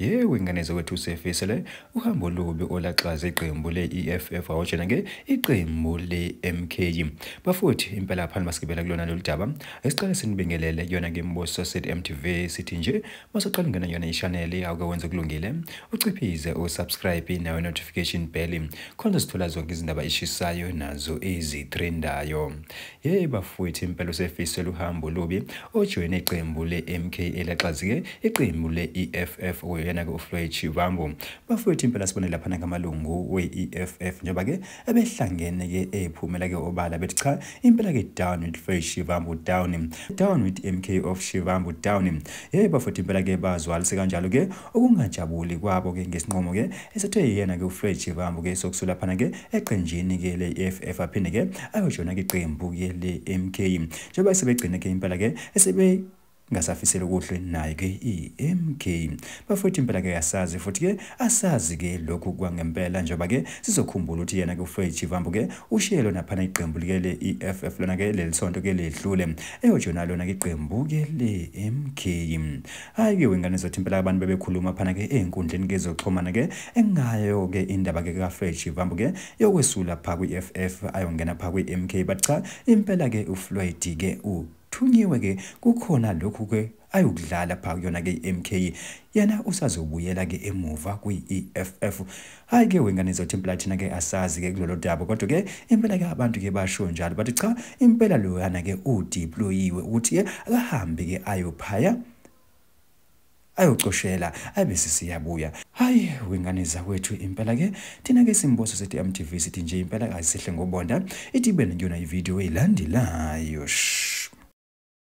yewe ingane zokwethu usefise le uhambo olubi olaxaza iqembu le-eff awotshena ke iqembu le-mk bafuthi impela phani masigibela kulona lolu daba esiqale sinibingelele kuyona ke mbuso set mtv sithi nje Masaqala ungena yona ishaneli awuke wenze kulungile uciphize usubscribe nawe notification bell khona uzithola zonke izindaba eshisayo nazo ezitrendayo. Hey bafowethu impela usefise luhambo lubi ojoyine iqembu le-MK elaxazike iqembu le-EFF oyena-ke uFloyd Shivambu. Bafowethu impela sibone laphana ngamalungu we-EFF njengoba-ke ebehlangene ke ephumela ke obala bethi cha impela ke down with Faith Shivambu down down with MK of Shivambu down hey bafethu impela ke bazwalise kanjalo ke okungajabuli kwabo ke ngesinqomo ke esethe yena ke uFred Shivambu ke sokusula phana ke eqenjini ke le EFF aphinde ke ayojona ke iqembu ke le MK njengoba sebegcine ke impela ke esebe ngasafisela okuhle naye ke iMK bafowethu impela ke asazi futhi ke asazi ke lokhu kwangempela njengoba ke sizokhumbula ukuthi yena ke uFred Chivambu ke ushiye lona phana iqembu like le EFF lona ke leli sonto ke ledlule eyojona lona ke iqembu ke le MK hayi ke wengane zothi impela abantu bebekhuluma phana ke ezinkundleni ke zoxhumana ke engayo ke indaba ke kaFred Chivambu ke yokwesula pha kwi-EFF ayongena pha kwi-MK but cha impela ke uFloyd ke u Thunyiwe ke kukhona lokhu ke ayokudlala pha kuyona ke iMK yena usazobuyela ke emuva kwiEFF hayi ke wengane zothi impela thina ke asazi ke kulolu daba kodwa ke impela ke abantu ke basho njalo bathi cha impela loyana ke udeployiwe ukuthi ke akahambe ke ayophaya ayocoshela abe sisiyabuya hayi wengane zakwethu impela ke thina ke simboso sethi MTV sithi nje impela kasihle ngobonda ithi ibe niyona ivideo eyilandelayo shh